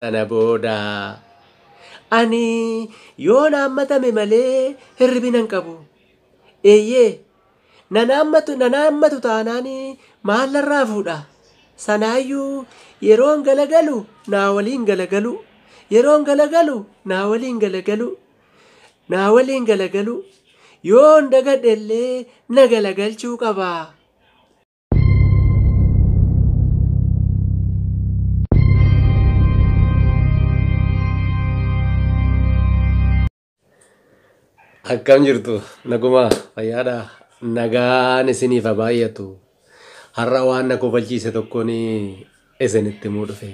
Sana booda ani yoon haammatame malee hirribina hin qabu. Eeyyee, nan haammatu nan haammatu taanaan maal narraa fuudha? Sanaayyuu yeroon galagalu naa waliin galagalu, yeroon galagalu naa waliin galagalu, naa waliin galagalu, yoon dagadhe illee na galagalchuu qaba. Akkam jirtu naguma fayyaadha nagaan isiniif haa baay'atu har'a waan na kofalchiise tokkoon isinitti himuu dhufe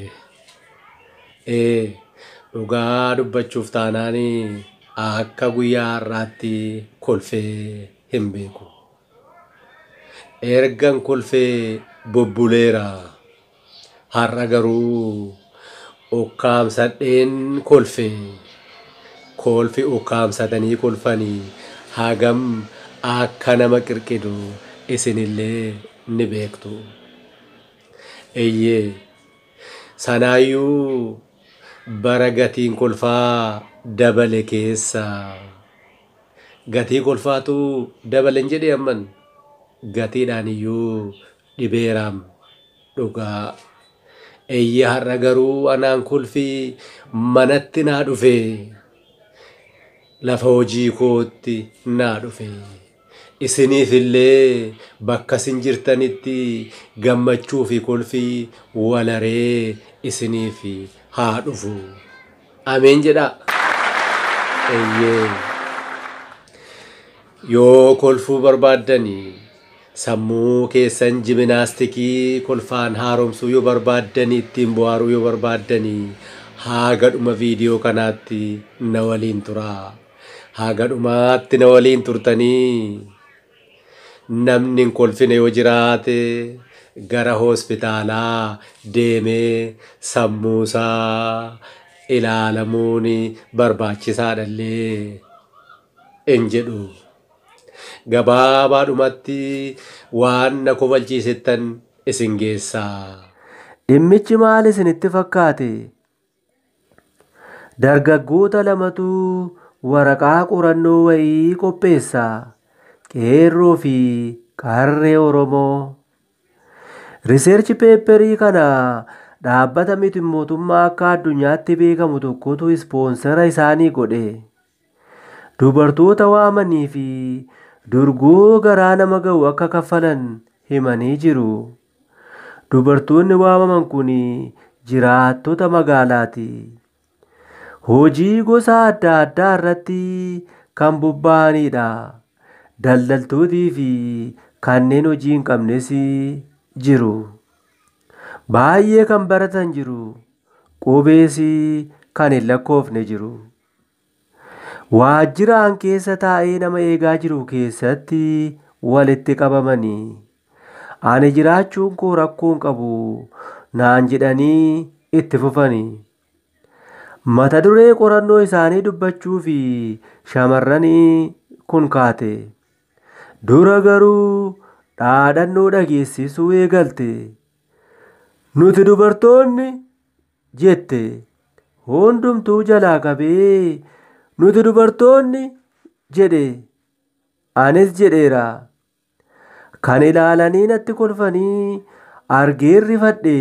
ee dhugaa dubbachuuf taanaan akka guyyaa har'aatti kolfee hin beeku Ergan kolfee bubbuleera. Har'a garuu ukkaamsadheen kolfe. Kolfi ukkaamsatanii kolfanii hagam akka nama qirqidu isinillee ni beektu. Eeyyee, sanaayyuu bara gatiin kolfaa dabale keessa. Gatii kolfaatu dabalen jedhee amman gatiidhaan iyyuu dhibeeraam dhugaa eyyee har'a garuu anaan kolfii manatti naa dhufe lafa hojii kootti naa dhufe isiniif illee bakka isin jirtanitti gammachuu fi kolfii walaree isiniif haa dhufu Ameen jedhaa. Eeyyee. Yoo kolfuu barbaaddani sammuu keessan jiminaastikii kolfaan haaromsuu yoo barbaaddani ittiin bohaaruu yoo barbaaddani haaga dhuma viidiyoo kanaatti na waliin turaa. Haaga dhumaatti na waliin turtanii Namni hin kolfine yoo jiraate gara hospitaalaa deemee sammuusaa ilaalamuun barbaachisaadha illee in jedhu. Gabaabaadhumatti waan na kofalchiisettan isin geessaa. Dhimmichi maal isinitti fakkaate? Dargaggoota lamatu waraqaa qorannoo wayii qopheessa. Qeerroo fi qarree Oromoo. Riseerchi peepperii kana dhaabbata miti mootummaa akka addunyaatti beekamu tokkotu ispoonsera isaanii godhe. dubartoota waamanii fi durgoo garaa nama ga'u akka kaffalan himanii jiru. Dubartoonni waamaman kun jiraattota magaalaati. Hojii gosa adda addaa irratti kan bobba'anidha. Daldaltootii fi kanneen hojii hin qabnes jiru. Baay'ee kan baratan jiru. Qubees kan hin lakkoofne jiru. Waajjiraan keessa taa'ee nama eegaa jiru keessatti walitti qabamanii ani jiraachuun koo rakkoo hin qabu naan jedhanii itti fufani. Mata duree qorannoo isaanii dubbachuu fi shamarranii kun kaate. Dura garuu dhaadannoo dhageessisuu eegalte. Nuti dubartoonni jette. Hundumtuu jalaa qabee nuti dubartoonni jedhe anis jedheera. Kan ilaalanii natti kolfanii argeen rifadhe.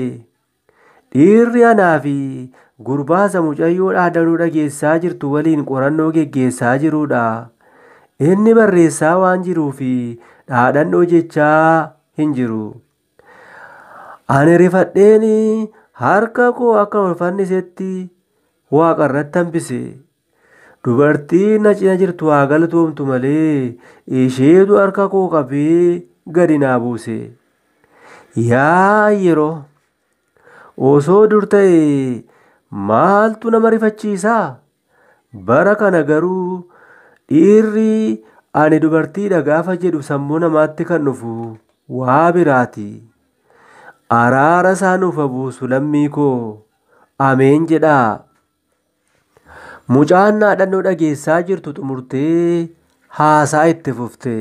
Dhiirri anaa fi gurbaasa mucayyoo dhaadanuu dhageessaa jirtu waliin qorannoo geggeessaa jirudha. Inni barreessaa waan jiruu fi dhaadhannoo jechaa hin jiru. Ani rifadheen harka koo akka ol fannisetti waaqa irratti hambise. Dubartiin na cina jirtu haa galatoomtu malee isheetu harka koo qabee gadi naa buuse. Yaa yeroo osoo dur ta'e maaltu nama rifachiisaa? Bara kana garuu dhiirri ani dubartiidha gaafa jedhu sammuu namaatti kan dhufu waa biraati. Araara isaa nuuf haa buusu lammii koo. Ameen jedhaa. Mucaan naadhannoo dhageessaa jirtu xumurtee haasaa itti fufte.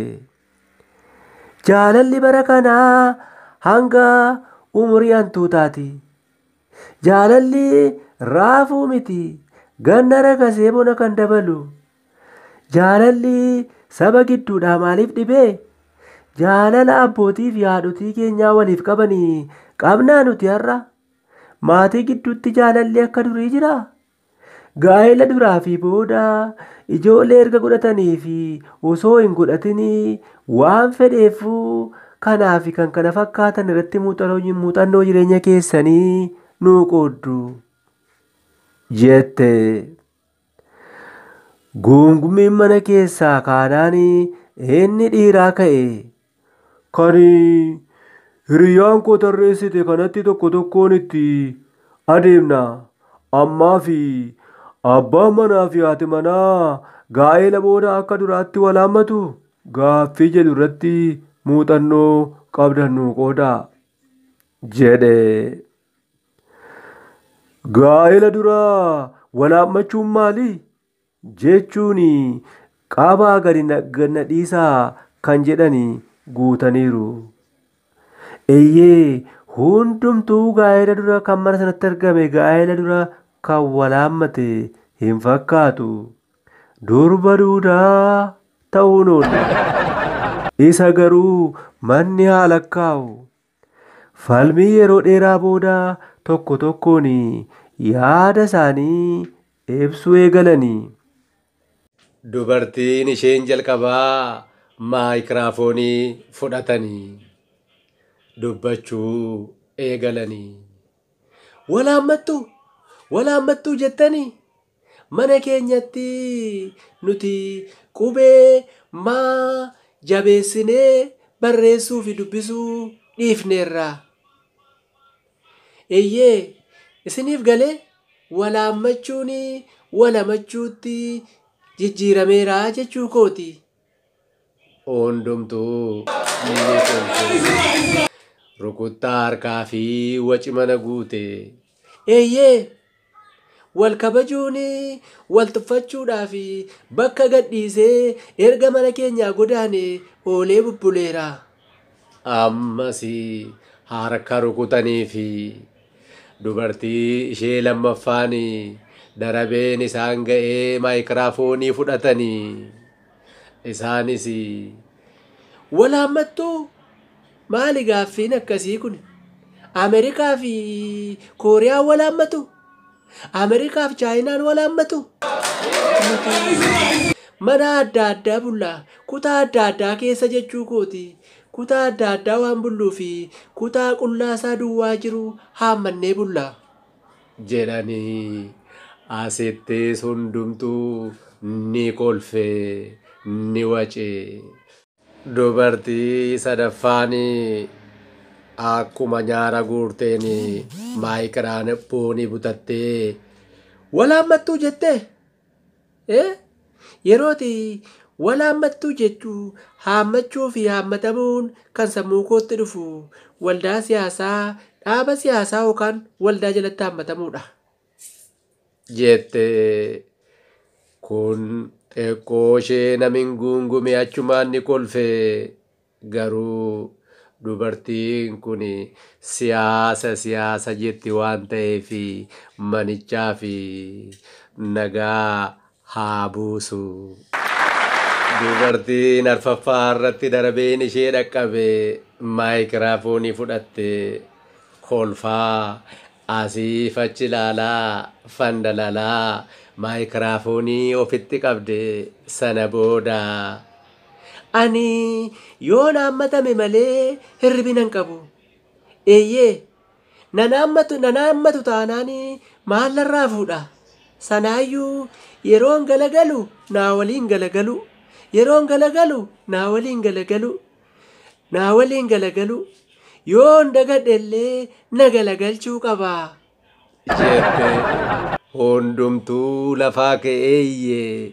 Jaalalli bara kanaa hanga umurii hantuutaati. Jaalalli raafuu miti ganna rakasee bona kan dabalu. Jaalalli saba gidduudhaa maaliif dhibee? Jaalala abbootii fi haadhotii keenyaa waliif qabanii qabnaa nuti har'a? Maatii gidduutti jaalalli akka durii jiraa? Gaa'ela duraa fi booda, ijoollee erga godhatanii fi osoo hin godhatin waan fedheef kanaa fi kan kana fakkaatan irratti muuxannoo jireenya keessanii nuu qooddu jette. Guungummiin mana keessaa kaanaan inni dhiiraa ka'e Kan hiriyyaan koo tarreessite kanatti tokko tokkoon itti adeemna. Ammaa fi abbaan manaa fi haati manaa gaa'eela booda akka duraatti wal haammatu? Gaaffii jedhu irratti muuxannoo qabdan nuu qoodaa. jedhe. Gaa'ela dura wal haammachuun maali? jechuun qaabaa gadi gad na dhiisaa kan jedhani guutaniiru. Eyyee hundumtuu gaa'ela dura kan mana sanatti argame gaa'ela dura kan wal haammate hin fakkaatu. Durba duudaa ta'uun oolle. Isa garuu manni haa lakkaa'u. Falmii yeroo dheeraa booda tokko tokkoon yaada isaanii ibsuu eegalani. Dubartiin isheen jalqabaa maayikiraafoonii fudhatani dubbachuu eegalani. Wal haammattuu? Wal haammattuu jettanii? Mana keenyatti nuti qubee maa jabeessinee barreessuufi dubbisuu dhiifneerra. Eeyyee, isiniif galee? Walaammachuun walamachuutti jijjiirameera jechuu kooti. Hundumtuu ni kolfe. Rukuttaa harkaa fi waci mana guute. Eeyyee! Wal kabajuun wal tuffachuudhaa fi bakka gadhiisee erga mana keenyaa godaane oolee bubbuleera. Ammas harka rukutanii fi. Dubartii ishee lammaffaan darabeen isaan ga'ee maayikiraafoonii fudhatanii isaanis walaammattuu maali gaaffiin akkasii kun Ameerikaa fi Kooriyaan walaammatu Ameerikaa fi Chaayinaan walaammatu mana adda addaa bullaa kutaa adda addaa keessa jechuu kooti Kutaa adda addaa waan bulluu fi kutaa qullaa isaa duwwaa jiru haammannee bulla. jedhanii asittiis hundumtuu ni kolfe, ni wace. Dubartii sadaffaan akkuma nyaara guurteen maayikiraanphoonii butattee, Wal haammattuu jettee? Yeroo itti wal haammattu jechuu haammachuu fi haammatamuun kan sammuu kootti dhufu waldaa siyaasaa, dhaaba siyaasaa yookaan waldaa jalatti haammatamuudha. Jettee kun xiqqoo ishee namin guungume achumaan ni kolfee. Garuu dubartiin kun siyaasa siyaasa jetti waan ta'eef manichaaf nagaa haa buusu. Dubartiin arfaffaa irratti darbeen ishee dhaqqabe maayikiraafoonii fudhattee kolfaa asiif achi ilaalaa fandalalaa maayikiraafoonii ofitti qabde sana booda Ani yoon haammatame malee hirribina hin qabu. Eeyyee, nan haammatu, nan haammatu taanaan maal narraa fuudha? Sanaayyuu yeroon galagalu naa waliin galagalu, yeroon galagalu naa waliin galagalu, naa waliin galagalu, yoon dagadhe illee na galagalchuu qaba. Jeeftee. Hundumtuu lafaa ka'ee iyyee.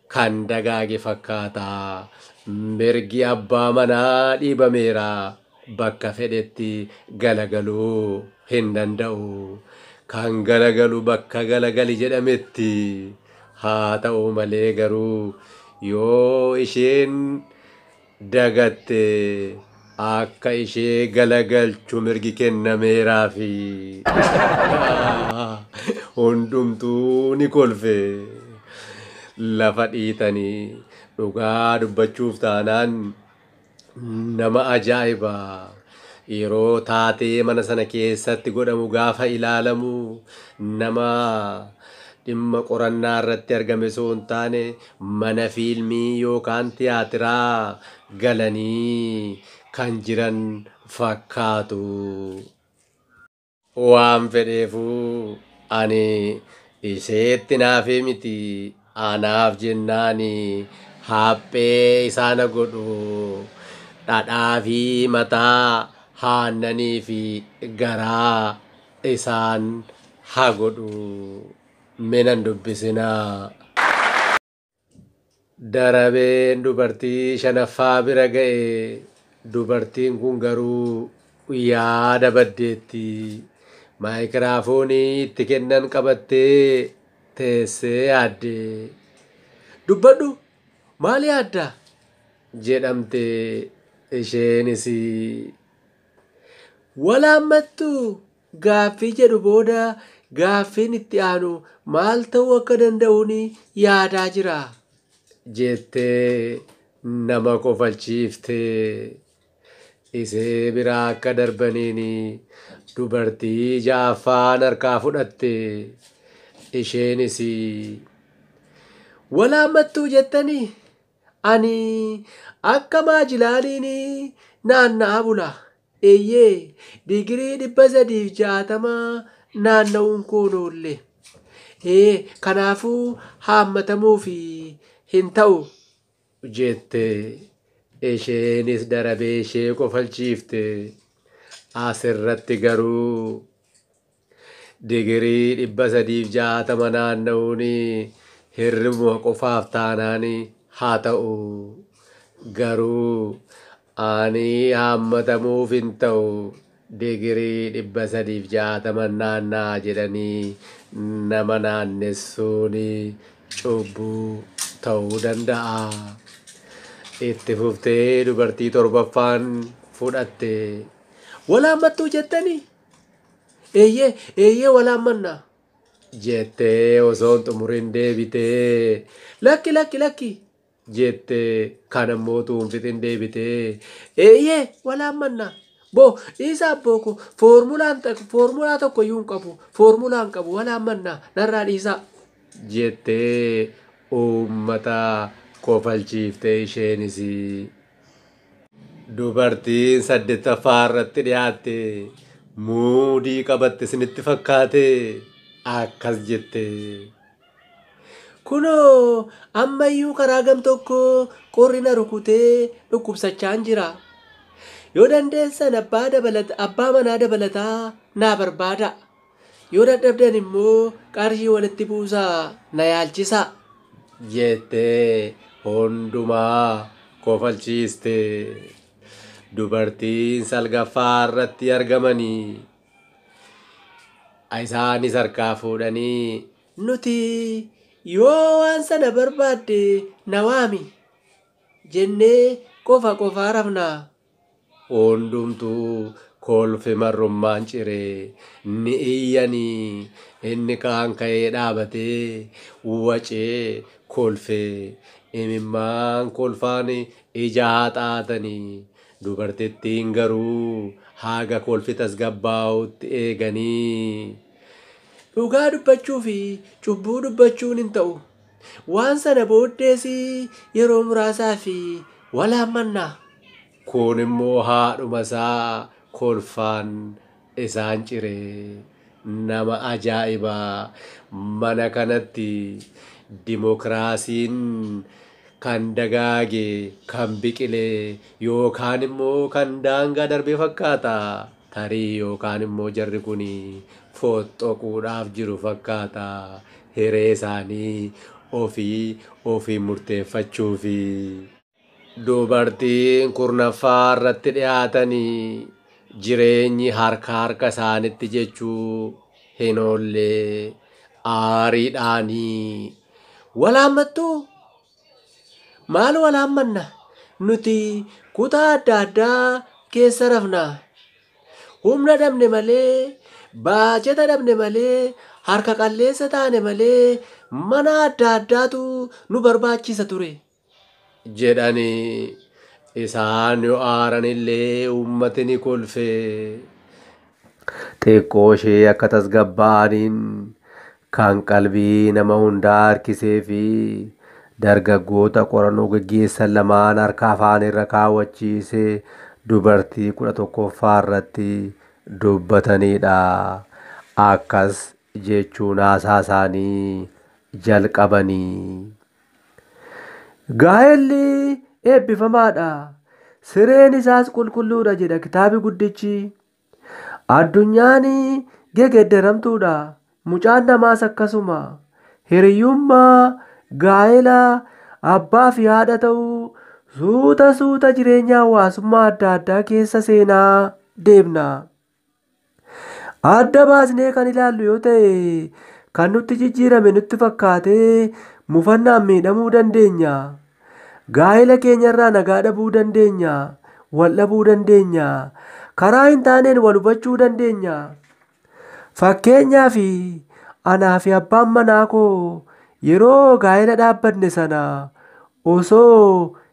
Kan dagaage fakkaata. Mirgi abbaa manaa dhiibameera. Bakka fedhetti galagaluu hin danda'u. Kan galagalu bakka galagali jedhametti. Haa ta'u malee garuu yoo isheen dagatte akka ishee galagalchu mirgi kennameeraafi. Hundumtuu ni kolfe. Lafa dhiitanii dhugaa dubbachuuf taanaan nama ajaa'iba. Yeroo taatee mana sana keessatti godhamu gaafa ilaalamu nama dhimma qorannaa irratti argame osoo hin taane mana fiilmii yookaan tiyaatiraa galanii kan jiran fakkaatu. Waan fedheefuu ani isheetti naafee miti anaaf jennaan haphee isaa na godhu. Dhadhaa fi mataa haannanii fi garaa isaan ha godhu. me nan dubbisinaa. Darabeen dubartii shanaffaa bira ga'e. Dubartiin kun garuu yaada baddeetti. Maayikiraafoonii itti kennan qabattee teessee yaadde. Dubbadhu! Maal yaadda? jedhamte isheenis. Wal haammattuu? gaaffii jedhu booda gaaffiin itti aanu maal ta'uu akka danda'uun yaadaa jira. jettee nama kofalchiiftee isee biraa akka darbaniin dubartii ja'affaan harkaa fudhatte. Isheenis wal haammattuu jettanii ani akka maajilaaliin naanna'aa bula. Eeyyee, digirii 360 naanna'uun koo hin oolle. Ee, kanaafuu haammatamuuf hin ta'u, jette. Isheenis darabee ishee kofalchiifte. As irratti garuu Digirii 360 naanna'uun hirribuma qofaaf taanaan haa ta'u. Garuu ani haammatamuuf hin ta'u digirii 360 naanna'a jedhanii nama naannessuun cubbuu ta'uu danda'a. Itti fuftee dubartii torbaffaan fudhatte. Wal haammattuu jettanii? Eeyyee, eeyyee walaan manna. jettee osoo hin xumurin deebitee. Lakki, lakki, lakki. jettee kaan ammoo utuu hin fixin deebitee. Eeyyee, walaan manna. Bo, dhiisa abboo koo. Foormulaan tak- foormulaa tokko iyyuu hin qabu. Foormulaa hin qabu. Walaan manna. Narraa dhiisaa. jettee uummata kofalchiiftee isheenis. Dubartiin saddettaffaa irratti dhiyaatte muudii qabatte isinitti fakkaate akkas jette. Kunoo ammayyuu karaa gam tokko qorri na rukutee dhukkubsachaan jira. Yoo dandeessan abbaa, dabalata, abbaa manaa dabalataa naa barbaada. Yoo dadhabdan immoo qarshii walitti buusaa na yaalchisaa. jettee hundumaa kofalchiiste. Dubartiin salgaffaa irratti argamanii isaanis harkaa fuudhanii nuti yoo waan sana barbaadde na waami jennee qofa qofaa rafnaa. Hundumtuu kolfi marrummaan ciree. Ni iyyanii. Inni kaan ka'ee dhaabatee wacee kolfee. Imimmaan kolfaan ija haxaatanii. Dubartittiin garuu haga kolfi tasgabbaa'utti eeganii. Dhugaa dubbachuufi cubbuu dubbachuun hin ta'u. Waan sana booddees yeroo muraasaaf wal haammanna. Kuun immoo haadhuma isaa kolfaan isaan cire. Nama ajaa'iba! Mana kanatti dimokiraasiin kan dagaage, kan biqile yookaan immoo kan daangaa darbe fakkaata. Tarii yookaan immoo jarri kun fooxxoquudhaaf jiru fakkaata. Hiree isaanii ofii ofiin murteeffachuufi. Dubartiin kurnaffaa irratti dhiyaatan jireenyi harka harka isaanitti jechuu hin oolle. Aariidhaan, Wal haammattuu? Maal wal haammanna? Nuti kutaa adda addaa keessa rafna. Humna dhabne malee, baajeta dhabne malee, harka qalleessa taane malee mana adda addaatu nu barbaachisa ture. jedhani. Isaan yoo aaranillee uummati ni kolfe. Xiqqooshee akka tasgabbaa'aniin kan qalbii nama hundaa harkisee fi dargaggoota qorannoo geggeessan lamaan harka afaanirra kaawwachiise dubartii 11ffaa irratti dubbataniidha. Akkas jechuun haasaasaanii jalqabani. Gaa'elli eebbifamaadha, sireen isaas qulqulluudha jedha kitaabi guddichi. Addunyaan gegeddaramtuudha, mucaan namaas akkasuma. Hiriyummaa, gaa'ela, abbaa fi haadha ta'uu suuta suuta jireenya hawaasummaa adda addaa keessa seenaa deemna. Adda baasnee kan ilaallu yoo ta'e kan nutti jijjiirame nutti fakkaatee mufannaan miidhamuu dandeenya. Gaa'ela keenyarraa nagaa dhabuu dandeenya. Wal dhabuu dandeenya. Karaa hin taaneen wal hubachuu dandeenya. Fakkeenyaaf anaa fi abbaan manaa koo yeroo gaa'ela dhaabbanne sana osoo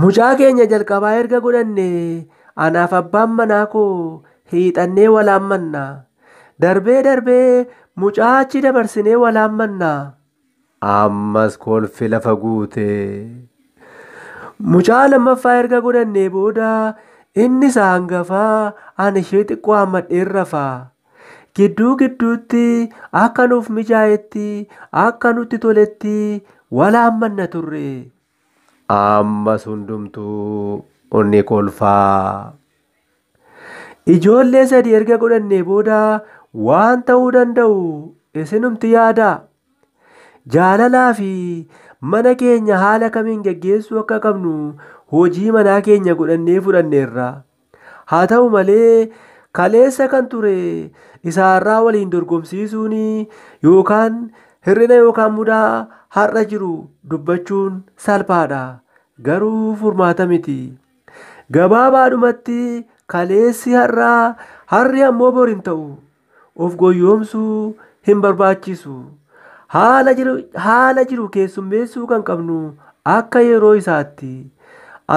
Mucaa keenya jalqabaa erga godhannee anaaf abbaan manaa koo hiixannee walaammanna. Darbee darbee mucaa achi dabarsinee walaammanna. Ammas kolfi lafa guute. Mucaa lammaffaa erga godhannee booda inni isa hangafaa ani ishee xiqqoo hammadheen rafa. gidduu gidduutti akka nuuf mijaa'etti akka nutti toletti wal haammanna turre. Ammas hundumtuu ni kolfa. Ijoollee sadii erga godhannee booda waan ta'uu danda'u isinumti yaadaa. Jaalalaa fi mana keenya haala kamiin geggeessuu akka qabnu hojii manaa keenya godhannee fudhanneerra. Haa ta'u malee, kaleessa kan ture isa har'aa waliin dorgomsiisuun yookaan hir'ina yookaan mudaa har'a jiru dubbachuun salphaadha. Garuu furmaata miti. Gabaabaadhumatti kaleessi har'aa, har'i ammoo bor hin ta'u. of goyyoomsuu hin barbaachisu. Haala jiru, haala jiru keessummeessuu kan qabnu akka yeroo isaatti.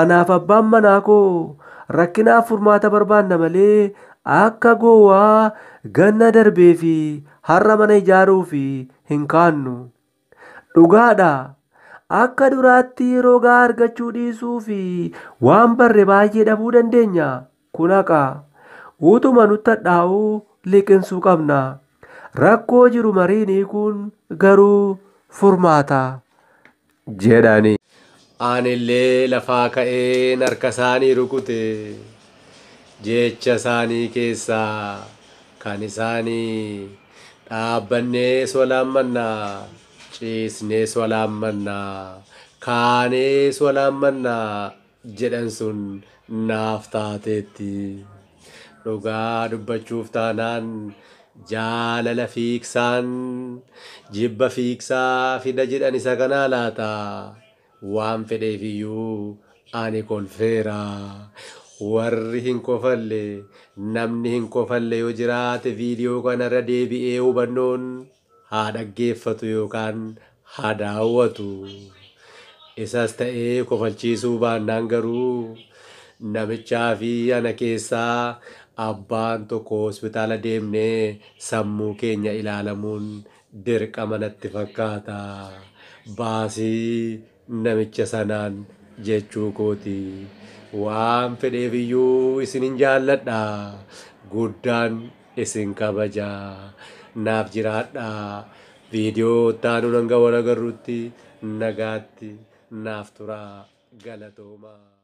Anaaf abbaan manaa koo rakkinaaf furmaata barbaanna malee akka gowwaa ganna darbee fi har'a mana ijaaruuf hin kaannu. Dhugaadha, akka duraatti rogaa argachuu dhiisuu fi waan barre baay'ee dhabuu dandeenya. Kun haqa. Utuma nutti hadhaa'uu liqinsuu qabna. Rakkoo jiru mariin hiikuun garuu furmaata. jedhani. Anillee lafaa ka'een harka isaanii rukute. Jecha isaanii keessaa kan isaanii. Dhaabbannee swalaammanna, ciisnee swalaammanna, kaanee swalaammanna jedhan sun naaf taateetti. Dhugaa dubbachuuf taanaan jaalala fiigsaan jibba fiigsaa fida jedhan isa kanaa laata? Waan fedheef iyyuu ani kolfeera. Warri hin kofalle, namni hin kofalle yoo jiraate video kana irra deebi'ee hubannoon haa dhaggeeffatu yookaan haa daawwatu. Isas ta'ee kofalchiisuu baannaan garuu namichaa fi ana keessaa abbaan tokko hospitaala deemnee sammuu keenya ilaalamuun Dirqama natti fakkaata. Baasii namicha sanaan jechuu kooti. Waan fedheef iyyuu isinin jaalladha. Guddaan isin kabaja. Naaf jiraadha. Viidiyoo itti aanuun hanga wal agarrutti nagaatti naaf turaa. Galatoomaa.